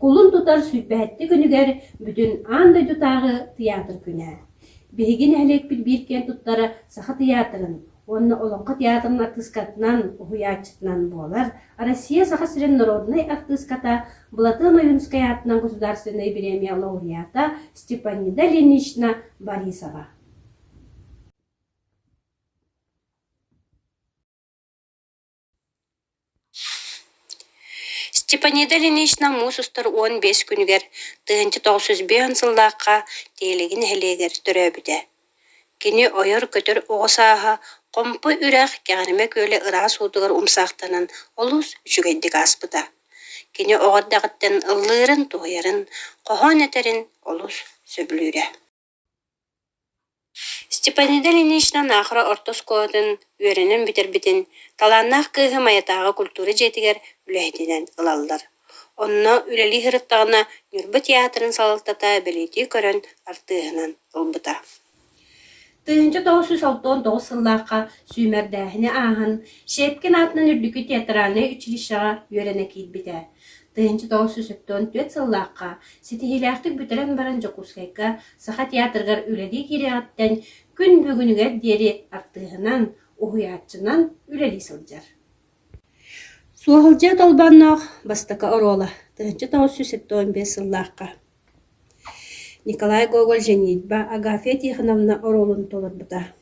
Кулун тутар сүүрбэһэттик күнүгэр бүтүн аан дойдутааҕы тыйаатыр күнэ. Биһиги нэһилиэкпит биир киэн туттара Саха тыйаатырын уонна Олоҥхо театрын артыыскатынан, уһуйааччытынан буолар Россия Саха сирин норуодунай артыыската, Былатыан Ойуунускай аатынан государственнай бириэмийэ лауреата Степанида Ильинична Борисова. степанида ильинична муус устар уон биэс күнүгэр тыһыынча тоҕус жүз биэс сыллаахха тиһилиги нэһилиэгэр төрөөбүтэ кини ойор-көтөр оҕо сааһа хомпу үрэх кэҕиримэ күөлэ ыраас уутугар умсаахтанан олус үчүгэйдик ааспыта кини оҕо эрдэҕиттэн ыллыырын туһуйарын хоһоон этэрин олус сөбүлүүрэ Степанида Ильинична Наахара орто оскуолатын үөрэнэн бүтэрбитин талааннаах кыыһы Майатааҕы культура дьиэтигэр үлэһитинэн ылаллар. Онно үлэлии сырыттаҕына Ньурба театрын салалтата бэлиэтии көрөн артыыһынан ылбыта. Тыһыынча тоҕус сүүс алта-тоҕус сыллаахха сүүмэрдээһини ааһан Щепкин аатынан үрдүкү театральнай училищеҕа үөрэнэ киирбитэ. Тыһыынча тоҕус сүүс сэттэ уон түөрт сыллаахха ситиһиилээхтик бүтэрэн баран Дьокуускайга Саха театрыгар үлэлии киириэҕиттэн күн бүгүнүгэр диэри артыыһынан, уһуйааччынан үлэлии сылдьар. Суоһалдьыйа Толбонноох бастакы оруола тыһыынча тоҕус сүүс сэттэ уон биэс сыллаахха Николай Гоголь «Женитьба» Агафья Тихоновна оруолун толорбута.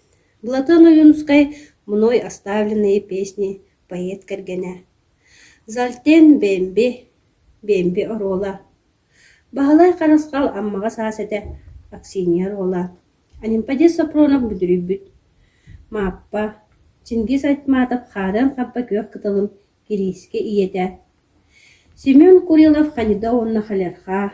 Былатыан Ойуунускай «Мной оставленные песни» поэт кэргэнэ Зальтен Бэмби, Бэмби оруола, Баһылай Харысхал Аммаҕа саас этэ, Аксинья оруола, Анемподец Сопронов бүдүрүйбүт, Мааппа, Чингис Айтматов хаарыан хаппа күөх кытылым кириискэ ийэтэ, Семен Курилов ханьыда уонна халерхаа,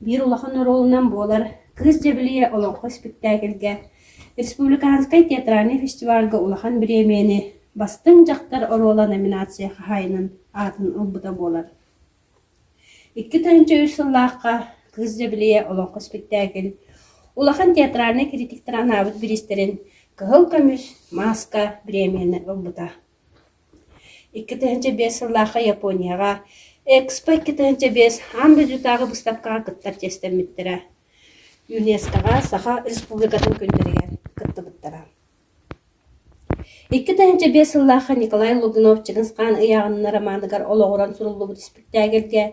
биир улахан оруолунан буолар «Кыыс дьэбилийэ» олоҥхо испиктээкилгэ республиканскай театральнай фестивальга улахан бириэмэни «Бастыҥ дьахтар» оруола номинация хаһаайынын аатын ылбыта буолар. Икки тыһыынча үс сыллаахха «Кыыс дьэбилийэ» олоҥхо испиктээкил улахан театральнай критиктэр анаабыт бириистэрин кыһыл көмүс, мааска бириэмэни ылбыта. икки тыһыынча биэс сыллаахха Японияҕа Экспо икки тыһыынча биэс аан дойдутааҕы быыстапкаҕа кыттар чиэстэммиттэрэ. ЮНЕСКОҕа Саха Республикатын күнтэригэр кыттыбыттара. Икки тыһыынча биэс сыллаахха Николай Лугунов Чыгысхаан ыйааҕынна романыгар олоҕуран суруллубут испиктээгэлгэ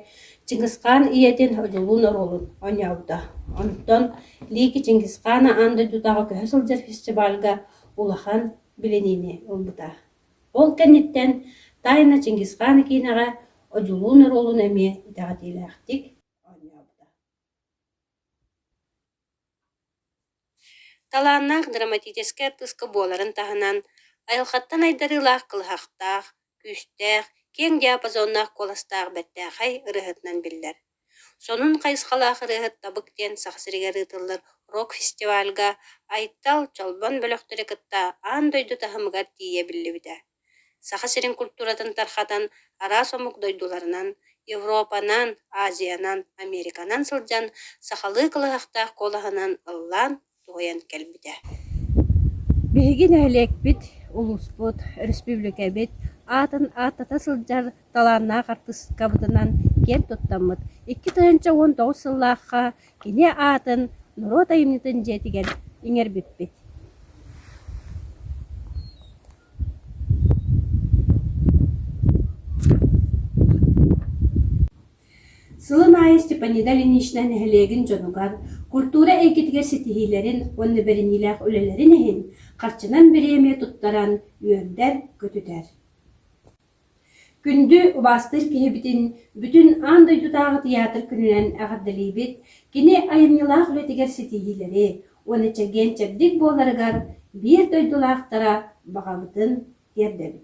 Чыгысхаан ийэтин Одьулуун оруолун оонньообута. Онтон Лики Чингисхаана аан дойдутааҕы көһө сылдьар фестивальга улахан билиниини ылбыта. Ол кэнниттэн тайна Чингисхан киинэҕэ Одьулуун оруолун эмиэ итэҕэтиилээхтик оонньообута талааннаах драматическай артыыска буоларын таһынан айылҕаттан айдарыылаах кылыһахтаах күүстээх киэҥ диапазоннаах куоластаах бэртээхэй ырыаһытынан биллэр Сонун хайысхалаах ырыаһыт Табык диэн Саха сиригэр ыытыллар рок-фестивальга Айтал Чолбон бөлөхтөрү кытта аан дойду таһымыгар тиийэ биллибитэ. Саха сирин культуратын тархатан араас омук дойдуларынан, Европанан, Азиянан, Американан сылдьан сахалыы кылаһахтаах куолаһынан ыллаан туһайан кэлбитэ. Биһиги нэһилиэкпит, улууспут, өрөспүүбүлүкэбит аатын ааттата сылдьар талааннаах артыыскабытынан киэн туттаммыт икки тыһыынча уон тоҕус сыллаахха кини аатын норуот айымньытын дьиэтигэр иҥэрбиппит Сылын аайы Степанида Ильинична нэһилиэгин дьонугар, культура эйгэтигэр ситиһиилэрин уонна бэриниилээх үлэлэрин иһин харчынан бириэмэ туттаран үөрдэр-көтүтэр. Күндү убаастыыр киһибитин бүтүн аан дойдутааҕы тыйаатыр күнүнэн эҕэрдэлиибит кини айымньылаах үлэтигэр ситиһиилэри уонна чэгиэн-чэбдик буоларыгар биир дойдулаахтара баҕабытын тиэрдэбит